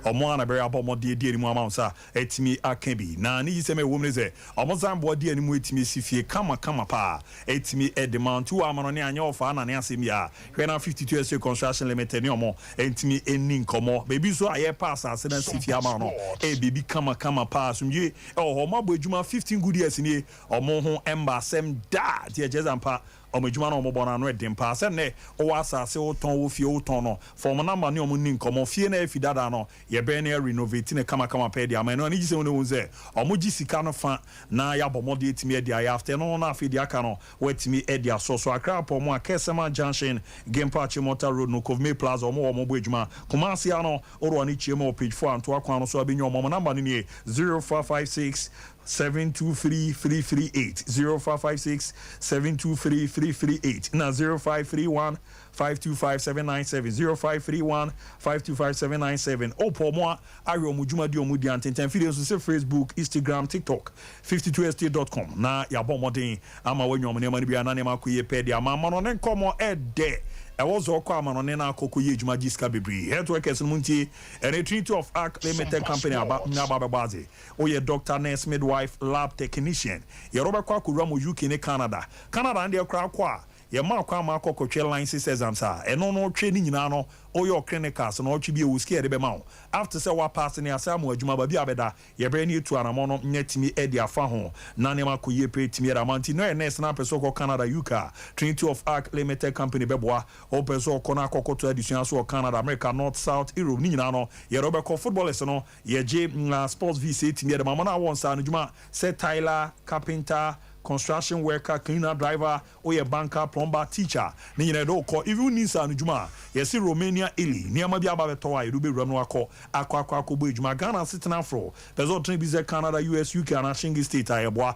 Wɔn a na bɛabɔ wɔn de adi anim ama wɔn nsa atumi aka bi, na ne yisɛm a ɛwom ne sɛ, wɔsan boa di anim tumi asi fie kama kama paa atumi de ma. Nti wɔ amanɔne a anyɛ ɔfaa na ne asɛm yi a hwɛ na Fifty Two Estate Construction Limited ne wɔn ntumi nni nkɔmmɔ. Baabi nso a yɛrepɛ asase no asi fie ama no no yɛ baabi kama kama paa. Asomdwie wɔ hɔ. Wɔabɔ adwuma fifteen good years nie, wɔn ho mma asɛm da. Nti ɛkyerɛ sɛ ampa Wɔn adwuma na wɔn bɔ no ano yɛ den paa. Sɛ nnɛ wo wɔ asaase wo tɔn, wo fie wo tɔn no, fa wɔn number ne wɔn nni nkɔmmɔ. Fie no a afi dada no, yɛ bɛn na yɛ renovate no kama kama pɛɛ de ama. Ɛno anigye sɛm ne wɔhu sɛ wɔn gye sika no fa na yɛ abɔ mmɔden atumi adi ayɛ after ɛno no na afei deɛ aka no wɔatumi adi asɔ so. Accra apɔ mu a, Kersema junction, Gimpa Achimota road no, Kovmay plaza wɔn wɔ wɔn bɔ adwuma. Kumasi ano, Oroani kyia mu wɔ page four Antoa kwan no so a bɛ nya wɔn. Wɔn number no nie, zero four five six. seven two three three three eight zero five five six seven two three three three eight na zero five three one five two five seven nine seven zero five three one five two five seven nine seven o pɔ ɔmo a ahwɛ ɔmo dwumadi ɔmo di antentan fidie nso se facebook istigram tiktok fifty two estate dot com na yabɔ mmɔden ama wanya ɔmo nneɛma no biara na nneɛma akɔ yie pɛ de ama amano ne nkɔmɔ ɛdɛ ɛwɔ zɔɔ kɔ amano ne na akɔ kɔ yie adwuma gye sika bebree health workers no mo ntie ɛne trinity of arc limited company aba aba bɛbɔ adze. Woyɛ doctor, nurse, midwife, lab technician, yɛrɛ bɛkɔ akowura mo UK ne Canada. Canada no deɛ koraa kɔ a yɛmaa kwan ma akɔ kɔtwe license exams a ɛno no ɔtwe ne nyinaa no woyɛ ɔ clinicals na ɔtwe bi ɛwɔ sika yɛde bɛma wo aft sɛ wa pass ne asɛ ama adwuma baabi a bɛda yɛbɛyɛ ne atu anamɔ no nya tumi ɛde afa ho na nneɛma kɔ yie pɛ tumi ɛde ama nti na ɔyɛ nurse na apɛ sɛ ɔkɔ Canada UK a Trinity of Arc Limited Company bɛboa ɔpɛ sɛ ɔkɔ na akɔ kɔto adesua so wɔ Canada America North South Europe ne nyinaa no yɛrɛ wobɛkɔ footballers no Yɛgye sports visa etumi yɛ dɛm ama no a wɔnsaa no dwuma sɛ tiler, carpenter, construction worker, cleaner, driver, woyɛ banker, plumber, teacher, ne nyinaa yɛde wo kɔ, even wonni nsaano dwuma a yɛse Romania Italy nneɛma bi aba bɛtɔ wo a yɛde wo bɛwura mu na wakɔ akɔ akɔ akɔbɔ adwuma Ghana asetena foro pɛ sɛ ɔtena bi sɛ Canada, US, UK anaa Shenge state a yɛboa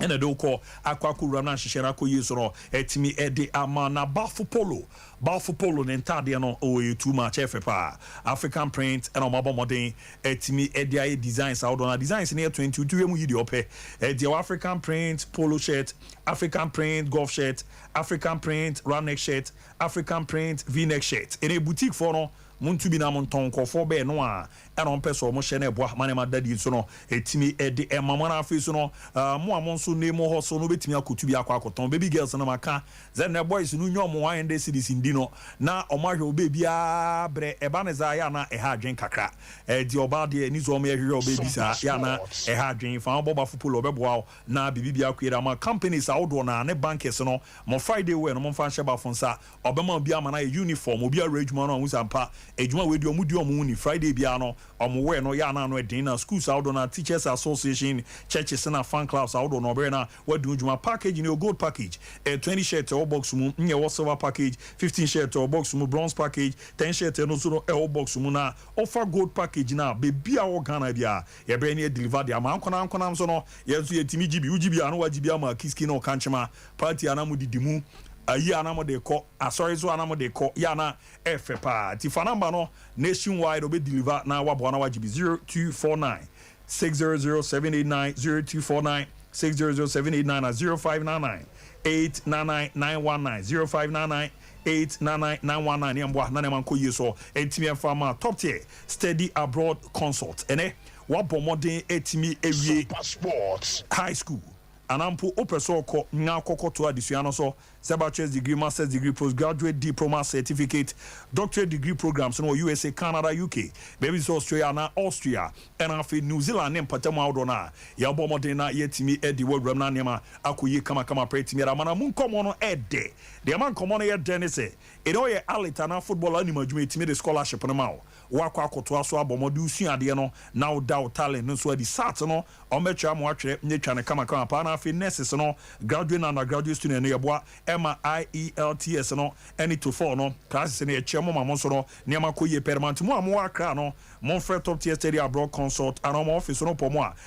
na de wo kɔ akɔ akɔwura no ahyehyɛ no akɔ yie so no, atumi de ama na Balfo Polo, Balfo Polo ne ntaadeɛ no oh ɛyɛ too much, ɛyɛ fɛ paa, African print ɛna wɔabɔ mmɔden atumi de ayɛ designs ahodoɔ na designs no yɛ twen nti wotumi yɛ mu yi deɛ ɔpɛ, ɛdeɛ wɔ African print polo shirt, African print golf shirt, African print round neck shirt, African print v-neck shirt, ɛnɛ boutique foɔ no monto bi na montɔn nkurɔfoɔ bɛɛ no a ɛna ɔmpɛ sɛ wɔhyɛ no ɛboa ma nneɛma da adi nso no, ɛtumi de ɛma mo. Ɛna afei nso no, mo a mo nso ne mo hɔ so no bɛtumi akɔtu bi akɔ akɔtɔn. Baby girls no maka sɛ nnɛ boys no nya wɔn 100 cedis ndi no na wɔn ahwɛ wo baby aa berɛ ɛba no saa yɛ a na ɛha adwene kakra ɛdeɛ ɔbaa deɛ ɛni sɛ wɔn yɛ hwehwɛ wo baby saa yɛ a na ɛha adwene fa bɔ bafo polo ɔbɛboa wo na biribi biara kue da ma companies ahodoɔ no a ne bankers no mo Friday wear no momfa nhyɛ bafo nsa Ɔbɛma obi ama no ayɛ uniform, obi awerɛ adwuma no ahu sɛ ampa adwuma wei deɛ ɔmo di ɔmo ho ni, Friday biara no ɔmo wɛ no yɛ a na ano ɛden na schools ahodoɔ no a teachers association, churches na fan clubs ahodoɔ no ɔbɛyɛ na wadi ho dwuma. Package no yɛ gold package, ɛyɛ twenty shirt ɛwɔ box mu na ɛwɔ silver package, fifteen shirt ɛwɔ box mu, bronze package, ten shirt ɛno nso no ɛwɔ box mu na wofa gold package no a baabi a wɔ Ghana biara yɛbɛyɛ na yɛ deliver de ama, ankonam ankonam nso no yɛn nso yɛtumi gye bi, wogye bi a na wagye bi ama Akiski ne Okankyema Party a na mo de di mu, ayi a na mo de kɔ, asɔre nso a na mo de kɔ, yɛ a na ɛyɛ fɛ paa. Nti fa number no nationwide ɔbɛ deliver na waboa na wagye bi zero two four nine six zero zero seven eight nine zero two four nine six zero zero seven eight nine na zero five nine nine eight nine nine nine one nine zero five nine nine eight nine nine nine one nine ne ɛmboa na ne ɛma nkɔ yie so ɛntumi ɛnfa ma top tier steady abroad consult ɛnɛ wabɔ mmɔden ɛtumi ɛwie high school anaa mpo wopɛ sɛ ɔkɔ na akɔkɔtoa adesua no so, sɛ bachelor's degree, master's degree, postgraduate diploma, certificate, doctorate degree programs no wɔ USA, Canada, UK, baabi te sɛ Australia anaa Austria, ɛna afei New Zealand ne mpatamu ahodoɔ no a, yɛbɔ mmɔden na yɛatumi de wo awuram na nneɛma akɔ yie kamakama pɛrɛ tumi ara ma na mo nkɔmmɔ no yɛ dɛ. Deɛ ɛma nkɔmmɔ no yɛ dɛ ne sɛ, either woyɛ allit anaa footballer wonim adwuma a, yɛtumi de scholarship no ma wo. Woakɔ akɔtoa so abɔ mmɔden wosua adeɛ no na woda wo talent no nso adi. Sat no wɔn bɛkyerɛ ama woatwerɛ na atwa no kamakama paa na afei nurses no graduate ne undergraduate student no yɛboa ma IELTS no ne Toefl no classes no yɛkyerɛ mo ma mo nso no nneɛma kɔ yie pɛrɛma nti mo a mowɔ Accra no monfrɛ top tier study abroad consult anaa wɔn office no pɔ mo a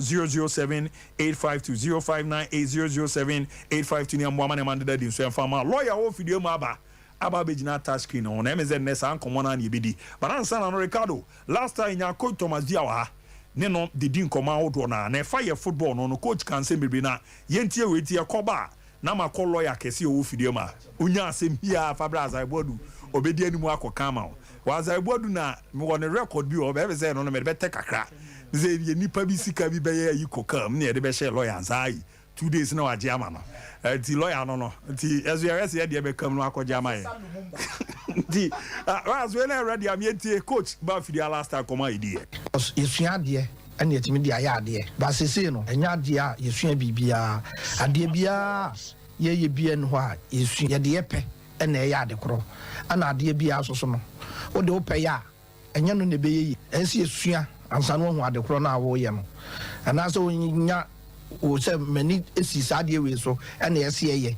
zero zero seven eight five two zero five nine eight zero zero seven eight five two ne mmoa ma nneɛma no deda adi nso ɛmfa mma lɔya wɔ mfidie mu aba aba abɛgyina touch screen ho na ɛmɛ sɛ nnɛ saa nkɔmmɔ no ara na yɛbɛdi but ansa na no Ricardo last time yɛnya coach Thomas Dia wɔ ha ne no de di nkɔmmɔ ahodoɔ no a na ɛfa yɛ football no no coach ka nsɛm bebree na yɛntie wei nti yɛkɔba a na makɔ lɔya kɛse a ɔwɔ fidie ma ɔnya asɛm hiaa afa berɛ a Azaibu Adu ɔbɛdi anim akɔka ama wo wɔ Azaibu Adu na mewɔ ne record bi wɔ hɔ bɛbɛ sɛ ɛno no mede bɛtɛ kakra ne sɛ ɛdeɛ nnipa bi sika bi bɛyɛ ayi kɔ kaa mu na yɛde bɛhyɛɛ lɔya nsa ayi two days na wagye ama no nti lɔya no no nti ɛso yɛhwɛ sɛ yɛdeɛ bɛka mu no akɔgye ama yɛ nti ah, ah, so yɛ na ɛwerɛ deɛ ameɛtie coach ba fidie a last time kɔm a yɛdiiɛ. Cos yɛsua adeɛ. ɛne atumi de ayɛ adeɛ. But seesei no, ɛnyɛ adeɛ a yɛsua biribiara. Adeɛ biara a yɛyɛ biara nni hɔ a yɛsua. Yɛde yɛ pɛ na ɛyɛ ade korɔ. Ɛna adeɛ biara nso so no, wode wo pɛ yɛ a, ɛnyɛ no na ɛbɛyɛ yie. Ɛsɛ sɛ yɛsua ansa na woahu ade korɔ no a woreyɛ no. Anaasɛ wonya wo sɛ m'ani si saa adeɛ wei so na ɛsɛ yɛyɛ.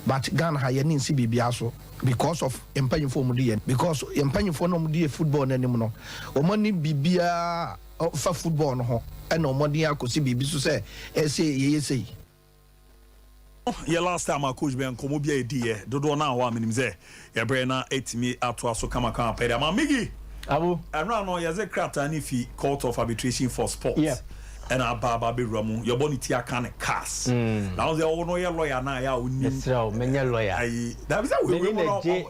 But Ghana ha, yɛn ani nsi biribiara so because of yɛn mpanimfoɔ a wɔdi yɛn. Because yɛn mpanimfoɔ no a wɔdi yɛn football no anim no, wɔn ani biribiara a. Fa football no ho na ɔmɔden akɔsi biribi so sɛ ɛsɛ yɛyɛ sei. Yɛ last time a coach bɛn nkɔmɔ bi a yɛdi yɛ dodoɔ naa hɔ a menim sɛ yɛbrɛ na atumi atoa so kama kama pɛɛ de ama Miggy Abu. Ɛno ano yɛdze krataa no fi court of arbitration for sport ɛna aba aba abɛwura mu yɛbɔ no ti aka no cas na wo dze wo no woyɛ lawyer naa yɛ a wonim. Mesrɛ wo menyɛ lawyer. Ayi dabi sɛ wei wei mu no.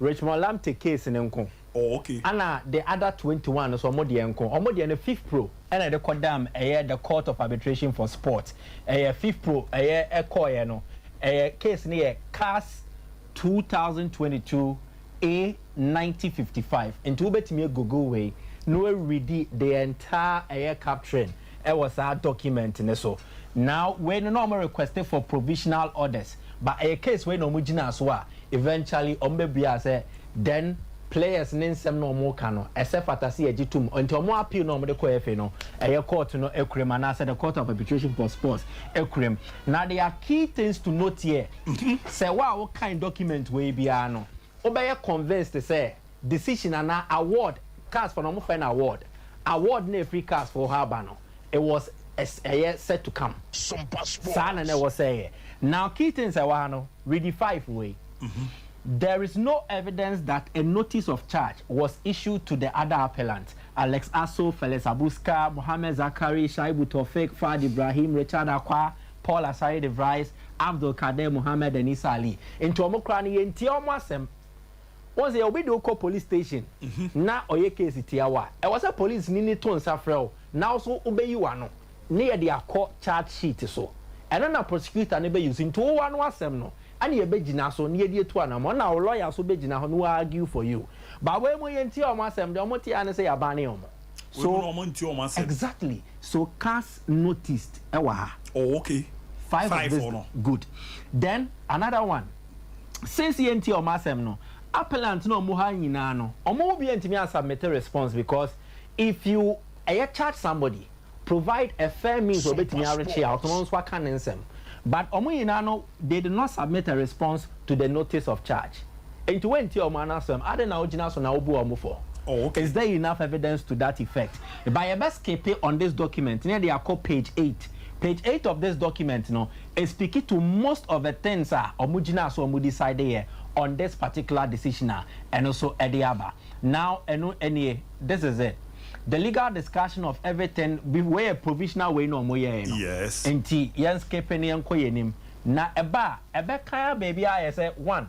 Richmond Lamptey case no nko ana the other twenty one no so ɔmo deɛ nko ɔmo deɛ no fifpro ɛna ɛde kɔ dam ɛyɛ the court of arbitration for sport ɛyɛ fifpro ɛyɛ ɛkɔɔyɛ no ɛyɛ case no yɛ cas two thousand twenty two A ninety fifty five nti wobɛtumi agoogle wei na woaredi the entire ɛyɛ capturing wɔ saa document no so na wei no na wɔn request for provisional orders but ɛyɛ case wei na wɔn gyina so a eventually wɔn bɛ bua sɛ then players ne nsɛm na wɔn ka no ɛsɛ fata sɛ yɛgye tum nti wɔn appeal na wɔn de kɔ FA no ɛyɛ court no akura mu anaasɛ the court of arbitration for sports akura mu na there are key things to note here sɛ wo a wokan document wei biara no wobɛyɛ convinced sɛ decision anaa award cars fo na wɔfrɛ no award award na ɛfiri cars fo hɔ aba no it was ɛyɛ set to come saa na na ɛwɔ sɛ ɛyɛ now key things ɛwɔ ha no ready five wei there is no evidence that a notice of charge was issued to the other appellant Alex Aso Felix Abuska Mohammed Zakari Shaibu Tofik Fad Ibrahim Richard Akwa Paul Asare de Vries Abdul Kader Mohammed and Isa Ali nti wɔn koraa no yɛntie wɔn asɛm. Wohu sɛ obi de wo kɔ police station na ɔyɛ case tia wo a, ɛwɔ sɛ polisini no to nsa frɛ wo na wo nso wobɛyi w'ano ne yɛde akɔ charge sheet so. Ɛno na prosecutor no bɛ use. Nti wo w'ano asɛm no ɛna yɛbɛgyina so na yɛde atu anamɔ ɛna wo lawyer nso bɛgyina hɔ na wa argue for you. But wei mu yɛntie wɔn asɛm deɛ wɔte ara ne sɛ yɛabane wɔn. So, Wei mu no wɔn ntie wɔn asɛm. exactly. So cars noticed ɛwɔ ha. Oh okay. Five of Five this, for no. good. Then another one. since yɛntie wɔn asɛm no, appellant no a wɔwɔ ha nyinaa no, wɔn mu biara ntumi ansubmite response because if you ɛyɛ charge somebody, provide a fair means a wɔbɛtumi arekye a, ɔno nso aka ne nsɛm. But wɔn nyinaa no, they did not submit a response to the notice of charge. Enti woantie wɔn ano asɛm, adɛn na wogyina so na wobu wɔn fɔ? Is there enough evidence to that effect? But yɛbɛskipe on this document na yɛde akɔ page eight. Page eight of this document no, e speak to most of the things a ɔmo gyinaa so a ɔmo decide yɛ on this particular decision a ɛno nso ɛde aba. Now ɛno nie, this is it, the legal discussion of everything be wei yɛ provisional wei na ɔmo yɛɛe no Yes. nti yɛn skipe no yɛn kɔ yɛn anim na ɛba a ɛbɛka ara baabi ara ayɛ sɛ one.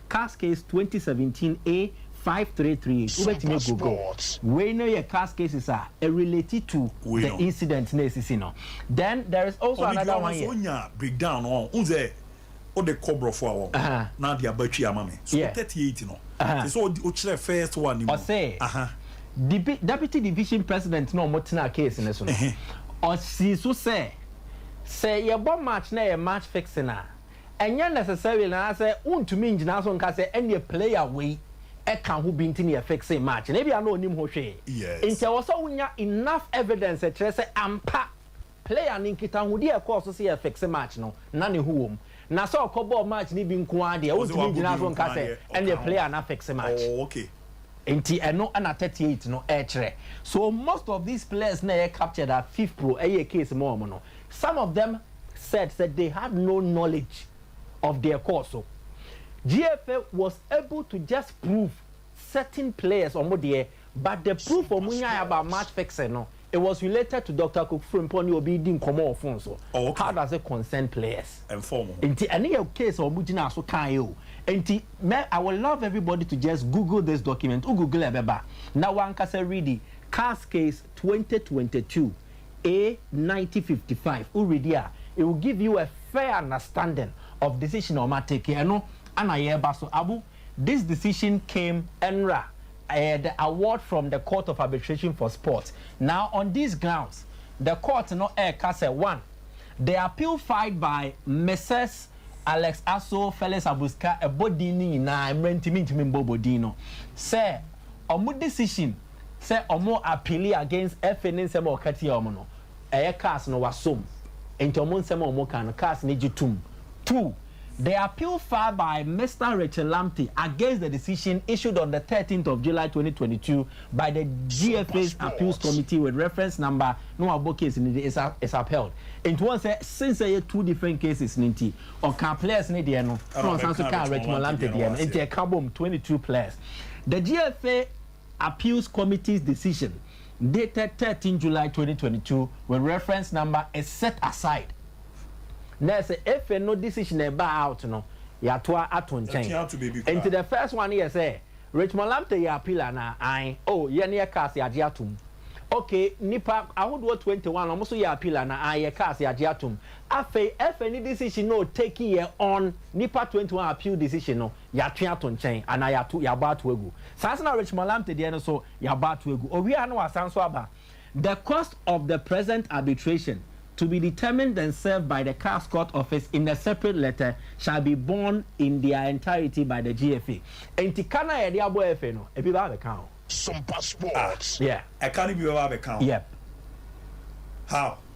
Cascais twenty seventeen A five three three eight wobɛtumi agu go wei no yɛ cas cases a ɛrelate to the incident na ɛsisi no then there is also another one yɛ. Ɔno deɛ ɔno nso ɔnya break down no ɔn sɛ ɔde kɔ brɔfo a ɔn na de aba twi ama me so thirty eight no te sɛ ɔkyerɛ first one no mu ɔsɛ dibi deputy division president na ɔmo tenaa case no so no ɔsii so sɛ sɛ yɛbɔ match na ɛyɛ match fixing a. Ɛnyɛ necessarily anaasɛ wontumi ngyina so nka sɛ ɛneɛ player wei ka ho bi nti na yɛfixee match no, ebia na ɔnim ho hwee. Nti ɛwɔ sɛ wonya enough evidence a ɛkyerɛ sɛ ampa player no nkitahodi a ɛkɔɔ so sɛ yɛfixe match no na ne ho wɔ mu. Na sɛ ɔkɔbɔɔ match no bi nko ara deɛ, wontumi ngyina so nka sɛ ɛneɛ player no afixe match. Nti ɛno na thirty eight no ɛkyerɛ. So most of these players no a ɛyɛ captured a Fifpro ɛyɛɛ case ma wɔn no, Some of them said sɛ they had no knowledge of deɛ ɛkɔɔ so. GFA was able to just prove certain players wɔn deɛ but the proof wɔn nyaeɛ about match fixing no, it was related to Doctor Kofi Frimpong ne obi redi nkɔmmɔ wɔ phone so. How does it concern players? Nti ɛno yɛ case a wɔn gyinaa so kaeɛ o. Nti mɛ I will love everybody to just google this document, wo google a ɛbɛba na wo ankasa readi, Cars Case twenty twenty two, A ninety fifty five, wo read a, it will give you a fair understanding of decision a wɔn a take yi, ɛno ɛna yɛreba so. Abu, this decision came ɛnra, ɛyɛ the award from the court of arbitration for sport. Now on these grounds, the court no ɛreka sɛ, one, the appeal filed by Mrs. Alex Aso, Felix Abuska, ɛbɔ din no nyinaa, mmerɛ nti mentumi mbɔ bɔ din no, sɛ wɔn decision, sɛ ɔmo appeali against FA ne nsɛm a ɔka tia ɔmo no, ɛyɛ cars no wasom nti ɔmo nsɛm a ɔmo ka no cars no gye tom. Two, the appeal filed by Mister Richard Lamptey against the decision issued on the thirteenth of July twenty twenty two by the GFA's appeals committee with reference number na wabɔ case no din is is upheld. Nti wɔn sɛ since ɛyɛ two different cases no nti ɔkaa players no deɛ no na ɔsan so kaa Richmond Lamptey deɛ no nti ɛka bom twenty two players the GFA Appeals Committee's decision dated thirteen July twenty twenty two with reference number is set aside. Na yɛ sɛ efe no decision a ɛbaa out no, yɛatoa ato nkyɛn. Enti the first one no yɛ sɛ, Richmond Lamptey yɛ appeal anaa? Ae. Oh, yɛn yɛkaa ase agye atom. Okay, nnipa ahodoɔ twenty one, wɔn nso yɛ appeal anaa? Ae, yɛkaa ase agye atom. Afei FA ne decision no o take yɛ on nnipa twenty one a appeal decision no, yɛatwe ato nkyɛn anaa yɛato yɛabɔ ato agu. Saa nso na Richmond Lamptey deɛ no nso yɛabɔ ato agu. Ɔwie a na wasan nso aba The cost of the present arbitration, to be determined and served by the CAS Court Office in a separate letter, shall be borne in their entirety by the GFA. Enti ka no a yɛde abɔ FA no, ebi bɛba abɛka ho. Some Ah, passports. yeah. Ɛka no bi bɛba abɛka ho. Yep. How?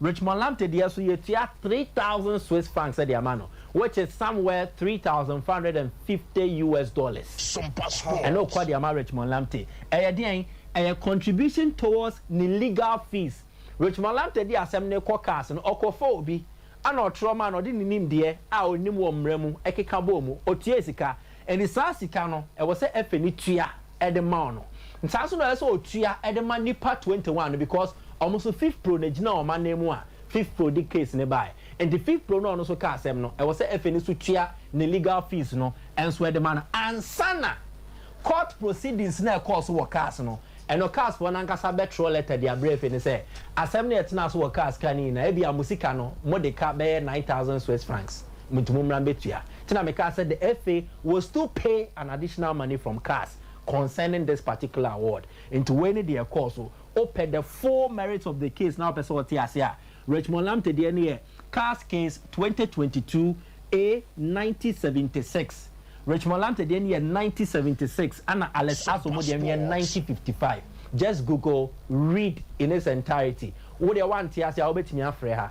Richmond Lamptey deɛ nso yɛtua three thousand Swiss francs de ama no which is somewhere three thousand five hundred and fifty US dollars ɛna ɔkura de ama Richmond Lamptey. Ɛyɛ deɛn? Ɛyɛ contribution towards ne legal fees. Richmond Lamptey de asɛm no rekɔ cars no ɔkɔfaa obi ɛna ɔtwerɛ maa no ɔde ne nimdeɛ a ɔnim wɔ mmara mu ɛkeka bɔɔ mu ɔtuae sika Ɛnti saa sika no ɛwɔ sɛ Efe no tua de ma ɔno. Saa nso na ɛwɔ sɛ ɔtua de ma nnipa twenty one no because wɔn nso Fifpro na ɛgyina wɔn anan mu a Fifpro de case no baaɛ. Ɛnti Fifpro na ɔno nso ka asɛm no, ɛwɔ sɛ Efe no nso tua ne legal fees no nso de ma no ansa na court proceedings no a ɛkɔɔ so wɔ cars no, ɛno cars foɔ no ankasa bɛtwerɛ letter de abrɛ Efe no sɛ asɛm no a ɛtenaa so wɔ cars kan no nyinaa ebia mo sika no mode ka bɛyɛ nine thousand swiss francs, mo nti mommra mbɛtua. Nti na mekaa sɛ the FA will still pay an additional money from Cas concerning this particular award. Nti wei ne deɛ ɛkɔɔ so. Wopɛ the full merits of the case na wopɛ sɛ wote ase a, Richmond Lamptey deɛ no yɛ Cas Case twenty twenty two A ninety seventy six. Richmond Lamptey deɛ no yɛ ninety seventy six ɛna Alex Asomugh deɛ no yɛ ninety fifty five. Just google read in its entirety. Wo deɛ woante ase a wobɛtumi afrɛ ha.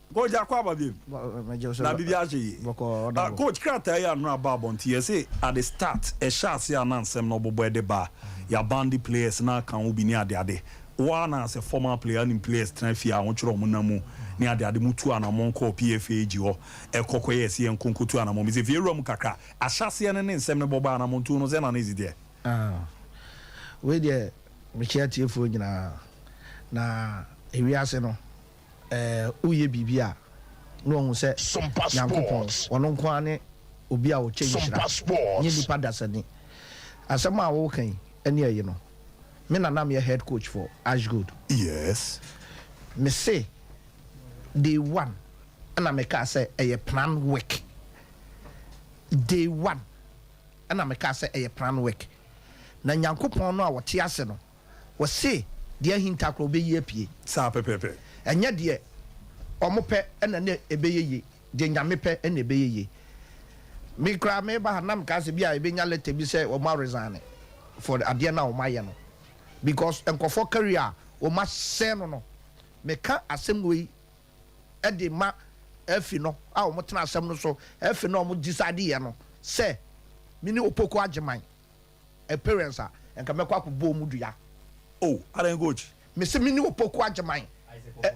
Coach akɔ aba biem na biribi ahyɛ yie. Ah coach krataa yi ano aba abɔnten yɛse at the start ɛhyɛ ase a na nsɛm na ɔbobɔ ɛde ba a yɛabande players na aka ho bi ne ade ade. Wo ara na as a former player wonim players tena fie a wɔkyerɛ wɔn nam mu ne ade ade mo tuu anamɔn kɔɔ PFAG hɔ ɛkɔ kɔyɛɛ ɛse yɛnkɔ nkɔtu anamɔn mesɛ fie awura mu kakra ahyɛ aseɛ no ne nsɛm no bɔ baa anamɔn tuo no sɛn na na ɛsi teɛ? Ah wei deɛ mekyea atiefoɔ nyinaa na ewiase no Ɛɛ, woyɛ biribi a, na wɔahu sɛ Nyankopɔn, ɔno nko ara ne Obi a ɔkyɛ nhyira, nyɛ nnipa dasani. Asɛm a woreka yi ani aye no, me na na meyɛ head coach for Ashgold. Mese, day one na mekaa sɛ ɛyɛ plan work. Day one na mekaa sɛ ɛyɛ plan work. Na Nyankopɔn no a ɔte ase no, Wɔse deɛ ahinta koraa ɔbɛyi apue. Saa pɛpɛɛpɛ. Ɛnyɛ deɛ wɔn pɛ na na ɛbɛyɛ yie, deɛ Nyame pɛ na ɛbɛyɛ yie. Me koraa meba ha na mekaa sɛ bi a yɛbɛnya letter bi sɛ wɔn aresigne for adeɛ no a wɔn ayɛ no because nkorɔfoɔ career a wɔn asɛe no no. Meka asɛm wei de ma afi no a wɔn tena asɛm no so, afi no a wɔn decideɛ no sɛ me ne Opoku Agyeman. Appearance a nka mɛkɔ akɔ bɔ ɔmu dua. Oh adan coach. Me se mene opoku agyeman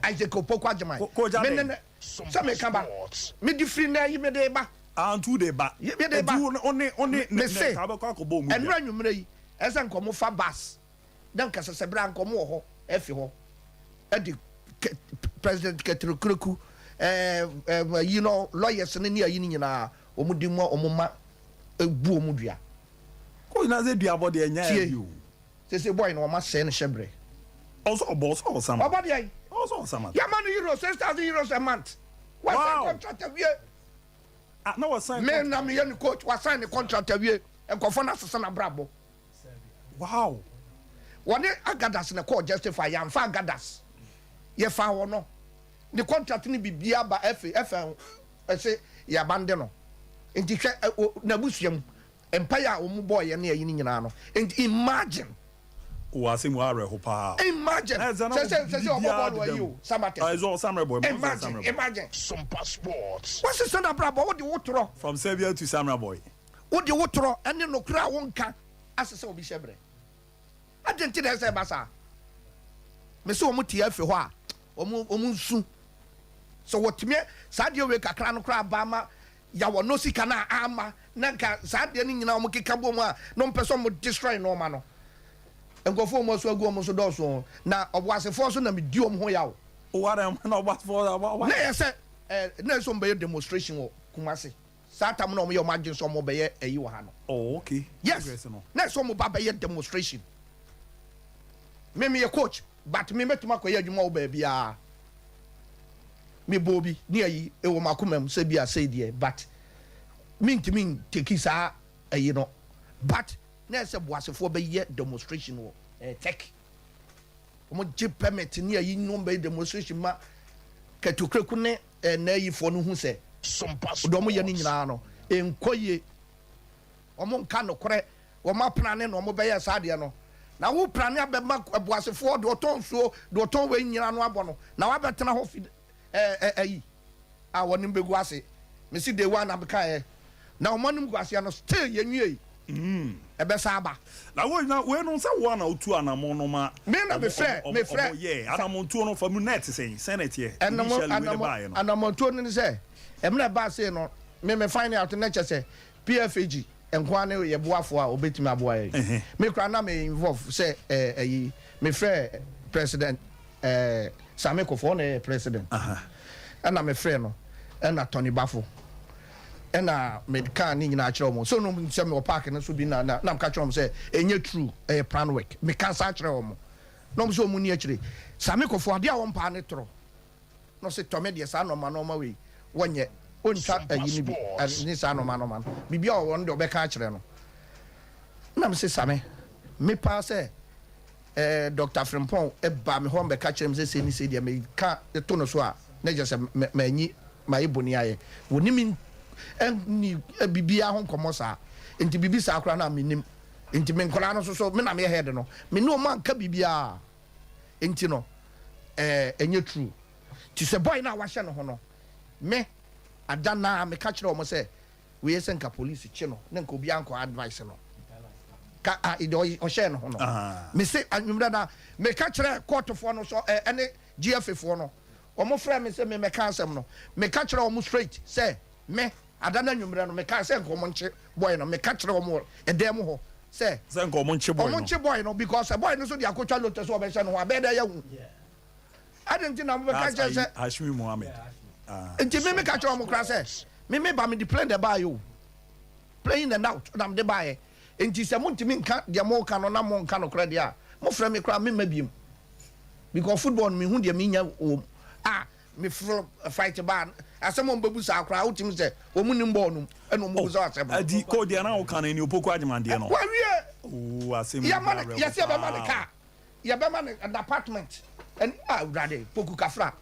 Isaac opoku agyeman me ne ne sɛ me ka ba me de firi nɛ yi me de ba. Ah ntu de ba. Ye me de ba. Nti wo ne wo ne ne ne ka bɛkɔ akɔ bɔ ɔmu dua. Ɛnora anwummerɛ yi ɛsɛ nka ɔmo fa bus na nka sɛsɛ bere a nka ɔmo wɔ hɔ ɛfi hɔ ɛde kɛ president kɛtiri kureku ɛɛ ɛɛ yi no lawyers no ne ayi no nyinaa ɔmo de mu a ɔmo ma ɛbu ɔmo dua. Coach na sɛ duabɔ deɛ ɛnyɛ Tie. easy o. Sese boy no wɔma sɛe no hyɛbrɛ. Ɔsɛ ɔbɔ ɔsɛ ɔsama. Ɔbɔ deɛn? Ɔsɛ ɔsama. Yɛma no euros six thousand euros a month. Wasan Wow! contract awie. Ah na wasan Me na contract. meyɛ ne coach wasan ne contract awie. Nkurɔfoɔ no asesa n'abrabɔ. Wow! Wɔne Agadas na ɛkɔɔ Justify yɛamfa Agadas. Yɛfaa wɔn no. Ne contract ne biribiara ba FA FA ho. Ɔse yɛ abande no nti hwɛ wɔ nabusua mu mpaeɛ a wɔn bɔɔ yɛ ne ayi no nyinaa no nti imagine. Wɔ asɛm wɔ awerɛho paa. Imagine sɛ sɛ sɛ sɛ ɔbɔ bɔɔlo ayi o Samatɛ imagine imagine. Sumpa sports. Wose sɛ nabrabɔ wo de wo torɔ. From Serbia to Samra boy. Wo de wo torɔ ɛne nokorɛ a wo nka asesɛ obi hyɛ brɛ. Adɛn nti na ɛsɛ sɛ ɛba saa? Mese wɔn te afi hɔ a, wɔn wɔn nsu. Sɛ wɔtumi saa adeɛ wei kakra no koraa baa ma ya wɔn no sika no a ama na nka saa adeɛ no nyinaa wɔn keka bom a na wɔn pɛ sɛ wɔn destroy nneɛma no. Nkurɔfoɔ wɔn asu agu wɔn so dɔɔso na ɔboasefoɔ nso nam di wɔn ho yaw. Wɔ adɛn na ɔboasefoɔ. Na ɛyɛ sɛ ɛɛ na ɛsɛ wɔn bɛyɛ demonstration wɔ Kumasi. Saa tam na ɔmo yɛ ɔmo adwen sɛ ɔmo bɛyɛ ɛyi wɔ ha no. Oh ok yes congress no. Na ɛsɛ ɔmo ba bɛyɛ demonstration me me yɛ coach but me mɛtumi akɔ yɛ adwuma wɔ baabiaa me bɔɔ bi ne ayi ɛwɔ makoma mu sɛ bia sei deɛ but me ntumi nteki saa ɛyi no but na ɛsɛ boasefoɔ bɛyɛ demonstration wɔ ɛɛ tech ɔmo gye permit ne ayi ne ɔmo bɛyɛ demonstration ma kɛtokreku ne Ɛnnɛ Yifoɔ no hu sɛ. Som pa so wɔ wɔn. Deɛ wɔyɛ no nyinaa no, ɛnkɔ yie. Wɔnka nokorɛ, wɔaprane na wɔbɛyɛɛ saa adeɛ no. Na woprane abɛma ɛboasefoɔ, deɛ ɔtɔn nsuo, deɛ ɔtɔn wei nyinaa ano abɔ no, na wabɛtena hɔ fi ɛɛ ɛɛ ayi a wɔne no bɛgu ase. Mese day one na mekaeɛ, Na ɔmo anom guaseɛ no still yɛnwiei ɛbɛsan aba. Na wei na wei no sɛ woa na wotu anamɔ no ma Me na me frɛ me frɛ ɔmo yɛɛ anamɔntuo no fa mu na ɛte sɛn sɛn na ɛteɛ initially wei na baayɛ no. Anamɔntuo no ne sɛ ɛmina ɛbaa sei no me me find out na kyɛ sɛ PFAG nkoaa ne yɛ boafoɔ a ɔbɛtumi aboa yɛn me koraa na me involve sɛ ɛɛ ayi me frɛ president ɛɛ Same Kofo ɔna ɛyɛ president ɛna me frɛ no ɛna Tony Bafo Ɛna mekãa ne nyinaa kyerɛɛ wɔn. So no nim sɛ mewɔ park no so bi na na meka kyerɛɛ wɔn sɛ ɛnyɛ true, ɛyɛ plan work. Meka saa kyerɛɛ wɔn na wɔn nso wɔn nni akyire. Same Kofo, adeɛ a wɔmpaa ne torɔ. Na ɔse tɔ me deɛ saa nnoɔma nnoɔma wei wɔnyɛ, wɔntwa ayi no bi ne saa nnoɔma nnoɔma no. Biribiara ɔwɔ no deɛ ɔbɛka akyerɛ no. Na mese Same, me paa sɛ. eh, Doctor Frimpong baa me hɔ bɛka kyerɛɛ me sɛ sei ne sei deɛ meka de to no so a, na kyerɛ sɛ manyi mayɛ boni ayɛ. Wɔne me nni biribiara ho nkɔmmɔ saa, nti biribi saa koraa na mennim. Nti me nkwadaa no nso so, me na meyɛ head no, me ne wɔn anka biribiara. Nti no, eh, ɛnyɛ true. Nti sɛ boy no a wɔahyɛ ne ho no, me, Ada, naa meka kyerɛɛ wɔn sɛ, Wei sɛ nka police kye no na nka obiara nkɔ advice no ka a deɛ ɔy- ɔhyɛɛ no ho no Ahaa. mese anwummerɛ no a meka kyerɛ kɔɔtofoɔ no sɛ ɛ- ɛne GFA foɔ no wɔn frɛɛ me sɛ memmɛka asɛm no meka kyerɛ wɔn straight sɛ me ada no anwummerɛ no mekae sɛ nka wɔn nkye boy no meka kyerɛ wɔn wɔ ɛdan mu hɔ sɛ Sɛ nka wɔn nkye boy wɔn no. nkye boy no because sɛ boy no nso de akɔtwa lote sɛ ɔbɛhyɛ no ho a ɛbɛyɛ dɛ yɛahu adɛn nti na mobɛka kyerɛ sɛ Hashmi Mohammed ah, nti me meka kyerɛ ɔmo koraa sɛ me meba mede plane na ɛbaeɛ o plane na now na mede baeɛ nti sɛ montumi nka deɛ moka no na monka nokorɛ deɛ a mofrɛ me koraa memma biom because football no mehu deɛ menya wom a meforo fight baa asɛm a ɔmbɛbu saa koraa wotumi sɛ wɔn nim bɔɔl nom ɛna ɔmbɛbu sɛ asɛm no adi kɔ deɛ na woka no ɛni opoko agyemandeɛ no wawie yɛma no yɛsɛ yɛbɛma no kaa Yɛbɛma no n'apartment ɛn ah awurade poku kafra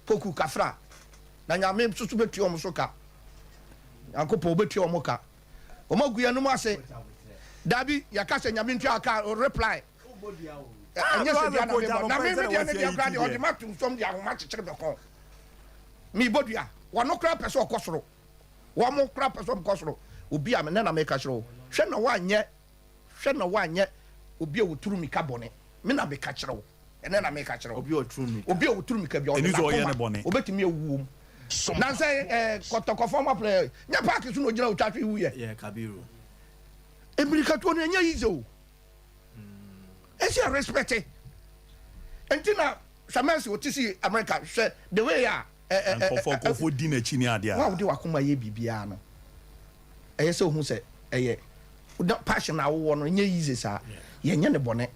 poku kafra na nyame nso bɛtua wɔn so ka nyankopɔn ɔbɛtua wɔn ka wɔn agu yɛn nom ase dabi yɛka sɛ nyame ntua ka o reply ɛnyɛ sɛ dua na mebɔ na me medeɛ ne deɛ kora deɛ ɔde ma tom fam de ahoma kyekyere bɛkɔ mebɔ dua wɔno kora pɛ sɛ ɔkɔ soro wɔn kora pɛ sɛ ɔmkɔ soro obi a mene na meka kyerɛ wo hwɛ na woanyɛ Hwɛ na woanyɛ obi a ɔturu mmirika bɔne. Me na meka kyerɛ wo, ɛnnɛ na meka kyerɛ wo. Obi a ɔturu mmirika. Obi a ɔturu mmirika biara, ɔde n'akoma, ɔbɛtumi awu wom. Nnansa yi, kɔtɔkɔfoɔ ma pere, nyɛ paake so na ɔgyina ɔtwa hwe wuiɛ. Yɛ Kabiru. Mmirikatuo no, ɛnyɛ easy o. Ɛsɛ yɛ respect. Ɛnti na hwɛ Mercy, ɔte si America, hwɛ the way a. Nkɔfoɔ, nkɔfoɔ di n'akyi ne adeɛ a. Wo a wode w'akoma yɛ biribiara no. ɛyɛ sɛ ohu sɛ ɛyɛ na passion a wowɔ no nyɛ easy saa yɛnyɛ ne bɔne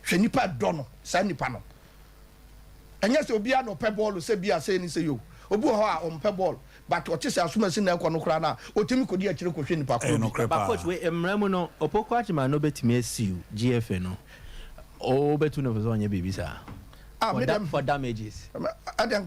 hwɛ nipa dɔ no saa nipa no ɛnyɛ sɛ obiara na ɔpɛ bɔɔlo sɛ bi a sɛ ni sɛ yo obi wɔ hɔ a ɔmpɛ bɔɔlo but ɔte sɛ asomasi na ɛkɔ no koraa no a ɔtumi kɔdi akyire kɔhwɛ nipa koro bi ba coach wei mmara mu no opoku agyema no bɛtumi asiw gfa no wobɛtu no fo sɛ ɔnyɛ biribi saa for damages ɛdɛn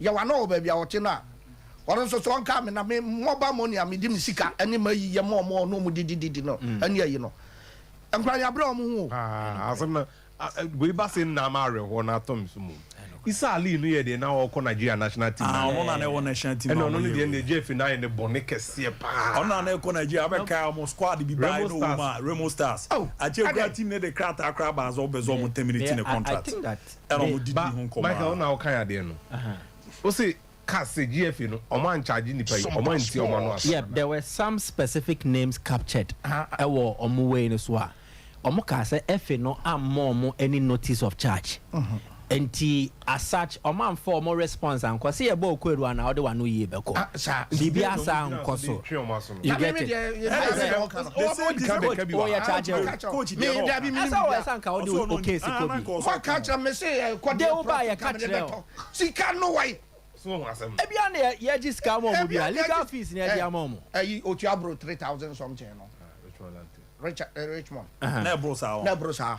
Yɛ w'ano wɔ baabi a ɔte no a, ɔno nso so ɔnka me, na me mmɔba mo nea mede me sika ne m'ayi yɛ ma wɔn a ɔne wɔn didi didi no ani ayi no. Nkoraa yɛabrɛ wɔn ho o. Aa asɛm no wei ba se nna ama awerɛhoɔ no atɔ me so mmom. Isa Ali no yɛ deɛ na ɔɔkɔ Nigeria national team no. Aa ɔno na na ɛwɔ national team a ɔmo yɛ wei. Ɛna ɔno no deɛ nna Jeff no ayɛ no bɔne kɛseɛ paa. Ɔno na na ɛkɔ Nigeria abɛkae ɔmo squad bi baeɛ na ɔwɔ mu a Remo Stars. Akyire koraa team no de krataa koraa baa sɛ ɔbɛsɛ ɔmo terminate ne contract. ɛna ɔmo didi ho nkɔmɔ aa. Michael wo na wo kan adeɛ no wo se cars se GFA no ɔmo an charge nipa yi ɔmo antie ɔmo ano asɛm. Yep there were some specific names captured ɛwɔ ɔmo wei no so a ɔmo kaa sɛ FA no ammɔ ɔmo any notice of charge nti as such ɔmo anfa ɔmo response ankɔ se yɛbɔɔ kwaadu anaa wode wano yie bɛkɔ biribiaa saa ankɔ so. You get it? ebia na yɛgye sika ama ɔmo bia legal fees na yɛde ama ɔmo. ɛyi otu aburo three thousand something no richmond na ɛboro saa na ɛboro saa.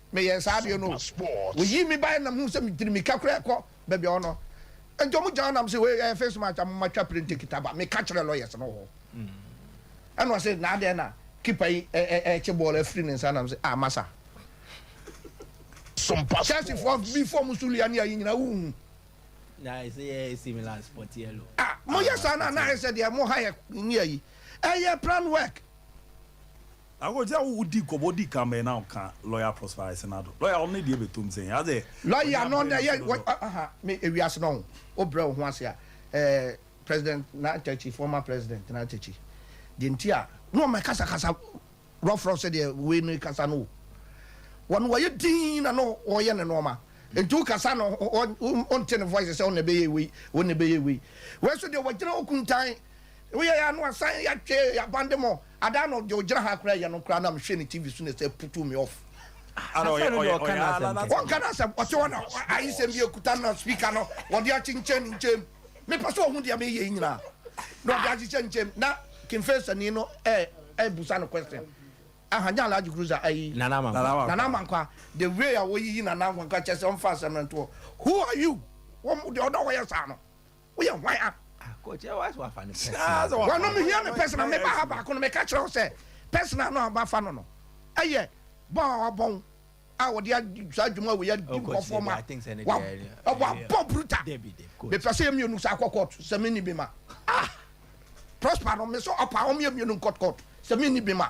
Meyɛɛ saa bio no o. Woyii me bae na mehuu sɛ mede mmirika koraa rekɔ baabi a ɔno. Enti wɔgyaa hɔ na mese, Wei ɛyɛ face match a momma twa printe kita ba. Meka kyerɛɛ lawyers no wɔ hɔ. Ɛnna ɔse, Na adɛn na keeper yi rekye bɔɔl afiri ne nsa? Na mese, Ah, masa. Chelseafoɔ bi fam Suliania yi nyinaa wonhu. Na ɛsɛ yɛ AC Milan sport yellow. Ah, moyɛ saa no a na ayɛ sɛ deɛ mo Hayek ne ayi. Ɛyɛ plan work. Akoto a wo di nkɔmɔ di kan bɛn na ɔka lɔya Prosper Asenado lɔya ɔno ne deɛ bɛ tom sɛn adɛ ɔnyɛ abɛn na so dodo. Me ewiase no wo brɛ wo ho ase a eh president Nantakyi former president Nantakyi deɛ nti a na ɔmɛ kasa kasa rough rough sɛdeɛ wei no kasa no o wɔn wɔyɛ dinn na na ɔyɛ ne nnoɔma nti wo kasa no wo nte ne voice sɛ ɔna ɛbɛyɛ wei ɔna ɛbɛyɛ wei wei so deɛ wɔgyina hɔ kuntan wo yɛ yɛ a na wasan yɛ atwɛ yɛ abandemɔ. Ada no deɛ ɔgyina ha koraa yɛ no koraa na mehwɛ ne TV so na ɛsɛ putu me off. Ada ɔyɛ ɔyɛ ɔyɛ aa na na. Wɔnka n'asɛm ɔte hɔ na ayisɛm bi ekuta no na speaker no wɔde akyenkyɛn ne nkyɛn mu mepɛ sɛ ɔhu deɛ meyɛ yi nyinaa na ɔde ahyehyɛ ne nkyɛn mu na King Faisani no ɛɛbusa no question aha nyɛ Alhaji Cruiser ɛyi Nana Amankwa Nana Amankwa the way a wɔyiyi Nana Amankwa kyerɛ sɛ ɔmfa asɛm no ntoɔ who are you wɔn deɛ ɔdɔ wɔyɛ saa no. Woyɛ hwan a? Wɔnom hia me personal. Meba ha baako no, meka kyerɛ wo sɛ personal no a wɔafa no no yɛ bɔn a wɔabɔn a wɔde adi saa dwuma wei adi nkɔfoɔ ma wɔabɔ bruta. Mepɛ sɛ yɛ mmienu saa kɔ court sɛ menni bi ma. Ah! Prosper no, me so ɔpa wɔn yɛ mmienu nkɔ court sɛ menni bi ma.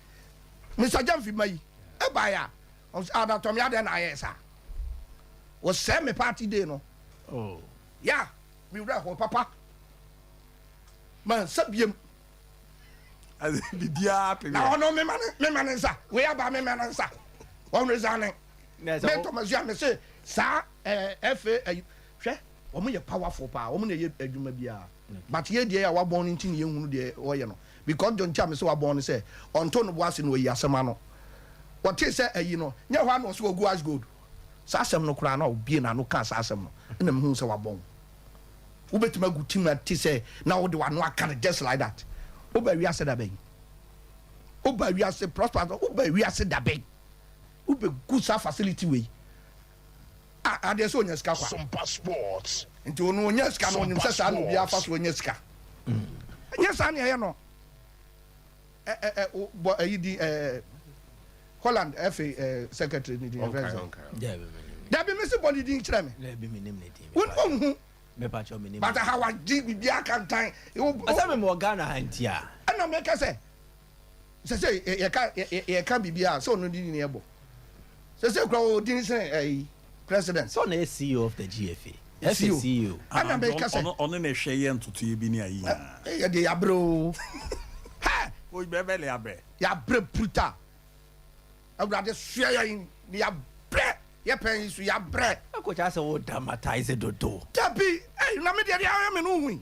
Mister Gyamfi ma yi ɛbaeɛ a, ɔm sɛ Adatɔme adɛn na ayɛɛ saa? Wɔsɛɛ me party day no. Oh. Ya, me werɛ hoo papa. Mansa biem. Biribiara to yɛ. Na ɔno mema ne mema ne nsa. Wei aba mema ne nsa. Wɔn resigning. Me Thomas Yam me se saa ɛɛ eh, FA ayi hwɛ wɔn yɛ powerful paa wɔn na ɛyɛ adwuma biara but yɛ deɛ yɛ a wabɔn ne nti ne yɛn hunu deɛ wɔyɛ no Mekɔɔ John Cham sɛ wɔabɔn no sɛ ɔnto no bo ase na wayi asɛm ano. Ɔtee sɛ ayi no nyɛ hɔ ara na ɔse wagu Ash Gold. Saa asɛm no koraa na ɔbuee n'ano kaa saa asɛm no na mehuu sɛ wɔabɔn wo. Wobɛtumi agu tim a ɛte sɛ na wode w'ano aka no just like that. Wobaa wiase da bɛn? Wobaa wiase, Prosper, wobaa wiase da bɛn? Wobɛgu saa facility wei a adeɛ sɛ ɔnya sika kwa nti ɔno ɔnya sika no ɔnim sɛ saa na obiara fa so ɔnya sika ɛnyɛ saa ne ɛyɛ no bɔ ayi di Holland FA secretary ne din ɛfrɛ sɛ dabi mesi bɔ ne din kyerɛ me wonhu bata ha wagye biribiaa kantan ɛsɛ memewɔ Ghana ha nti a ɛna meka sɛ sɛ sɛ yɛka yɛka biribi a sɛ ɔno di ne ɛbɔ sɛ sɛ kura wɔ din sɛ ɛyi president. sɛ ɔna yɛ CEO of the GFA ɛsɛ CEO. ɛna bɛ kasa ɔno ɔno na ɛhwɛ yɛ ntotoyɛ bi ne ayi nyinaa. ɛyɛ deɛ yabrɛ o hɛ. oyi bɛ bɛ le yabrɛ. yabrɛ bruta awurade soɛ yɛn ne yabrɛ yɛ pɛn yi so yabrɛ. ɛkɔkya sɛ wo dramatize dodo. dabi ɛyi na mi deɛ deɛ ayɛ mi no hu yi.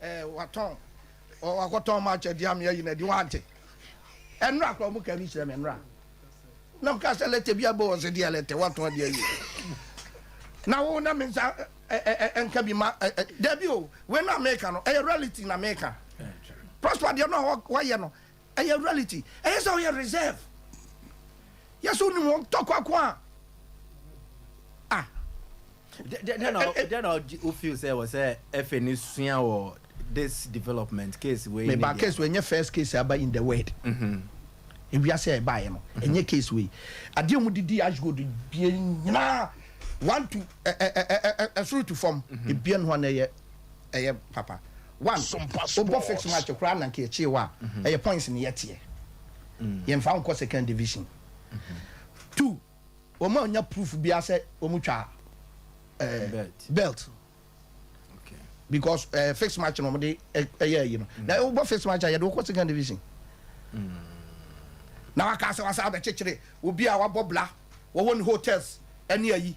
Eh watɔn ɔ wakɔtɔn ma akyɛ di ame ayi na di wante ɛnura kora ɔmo ka bi kyerɛ me ɛnura na mo ka sɛ lɛtɛ bi abɔ wɔn sɛ deɛ lɛtɛ watɔn deɛ ayi na wo na me nsa ɛnka bi ma dɛbi o wei no a meka no ɛyɛ reality na meka prosper deɛ no a wayɛ no Ɛyɛ reality. Ɛyɛ sɛ ɔyɛ reserve. Yɛ sɛ onim wɔn tɔkwa ko a. Ah. Dɛn na eh, eh, eh. o feel sɛ wɔ sɛ ɛfɛ ne sua wɔ this development case wei. Meba case wei nyɛ first case aba in the world. Mm-hmm. ewiase a ɛbaeɛ no ɛnyɛ case wei adeɛ mu didi ashgold bie nyinaa one to ɛsoro to fam ebien ho na ɛyɛ ɛyɛ papa one wobɔ fix match koraa na nka ɛkyee wo a ɛyɛ points ne yɛteɛ yɛmfa nkɔ second division two wɔn a ɔnya proof biara sɛ wɔn twa ɛɛ belt because ɛɛ eh, fix match na wɔn de ɛyɛ ayi no na wobɔ fix match a yɛde wokɔ second division na waka sɛ wasa abɛkyekyere obi a wabɔ bla wɔwɔ ne hotels ɛne ayi.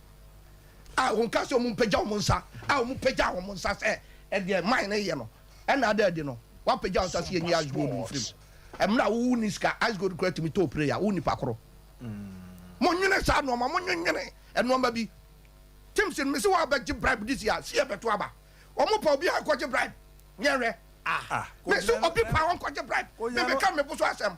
a wɔkaa sɛ wɔmpagya wɔn nsa, a wɔpagyaa wɔn nsa sɛ ɛdeɛ man no yɛ no, ɛna ada adi no, wɔapagya wɔn nsa sɛ yɛnyi ice gold mfiri mu. Mmerɛ a wo ni sika, ice gold kura tumi tɔ prayer, wo nipa koro. Monwene saa nnoɔma, monwenwene nnoɔma bi. Tim sin, mese wɔabɛgye bribe this year, see ɛbɛto aba. Wɔn pa obiara nkɔgye bribe, yɛnhwɛ. Ah, mese obi pa wɔnkɔgye bribe, mebɛka mebo so asɛm.